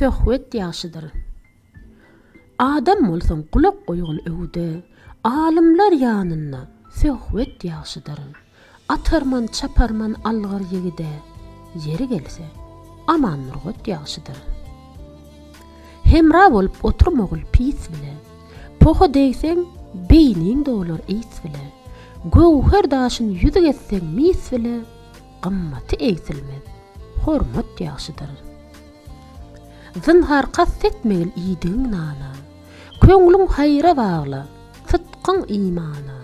Söhbet ýagşydyr. Adam bolsaň gulak goýgun öwüde, Alymlar ýanynda söhbet ýagşydyr. Atarman, çaparman algyr ýigide, Ýeri gelse, Aman Nurgat ýagşydyr. Hemra bolup oturmagul pis bile, Poha degseň, beýniň dolar ys bile, Göwher daşyn ýüzük etseň mis bile, Gymmaty egsilmez, hormat ýagşydyr. Zynhar kast etmegil iýdigiň nana, Köňlüň haýra bagla, sytgyň imana,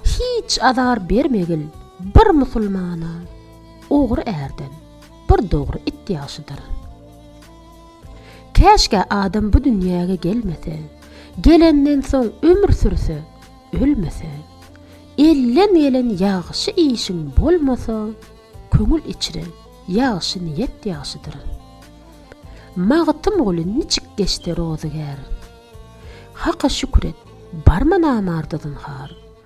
Hiç azar bermegil bir musulmana, Ogry ärden, bir dogry it ýagşydyr. Käşgä adam bu dünýäge gelmese, gelenden soň ömür sürse, ölmese. Elden gelen ýagşy işiň bolmasa, köňül içre ýagşy niýet ýagşydyr. Magtymguly niçik geçdi rozygär? Haka şükür et, barma namarda zynhar.